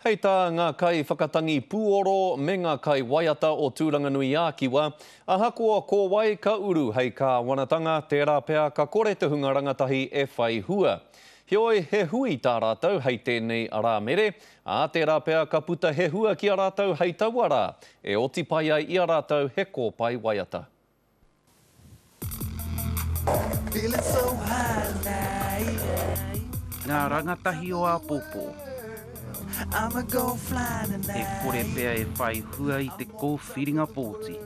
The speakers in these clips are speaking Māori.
Hei tā ngā kaiwhakatangi pūoro me ngā kaiwaiata o Tūranganui-ā-Kiwa, ahakoa ko wai ka uru hei kāwanatanga, tērā pea ka kore te hunga rangatahi e whai hua. Heoi, he hui tā rātou hei tēnei Arāmere, ā, tērā pea ka puta he hua ki a rātou hei taua rā, e oti pai ai i a rātou he kōpae waiata. Ngā rangatahi o āpōpō. He kore pea e whai hua i te kōwhiringa pōti.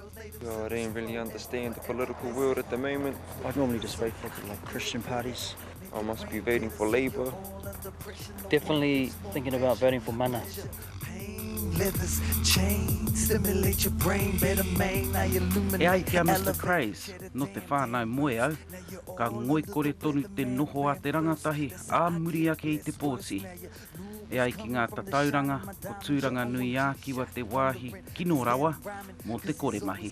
E ai ki a Mister Craze, nō te whānau moe au, ka ngoikore tonu te noho a te rangatahi ā muri ake i te pōti. E ai ki ngā tatauranga, ko Tūranganui-ā-Kiwa te wāhi kino rawa mō te kore mahi.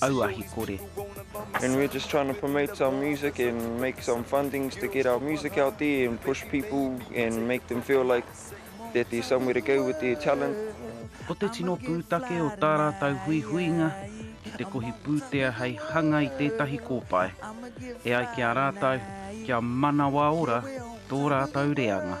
auahi kore. And we're just trying to promote our music and make some fundings to get our music out there and push people and make them feel like that there's somewhere to go with their talent. Ko te tino pūtake o tā rātou huihuinga ki te kohi pūtea hei hanga i tētahi kōpae, e ai ki a rātou kia manawa ora tō rātou reanga.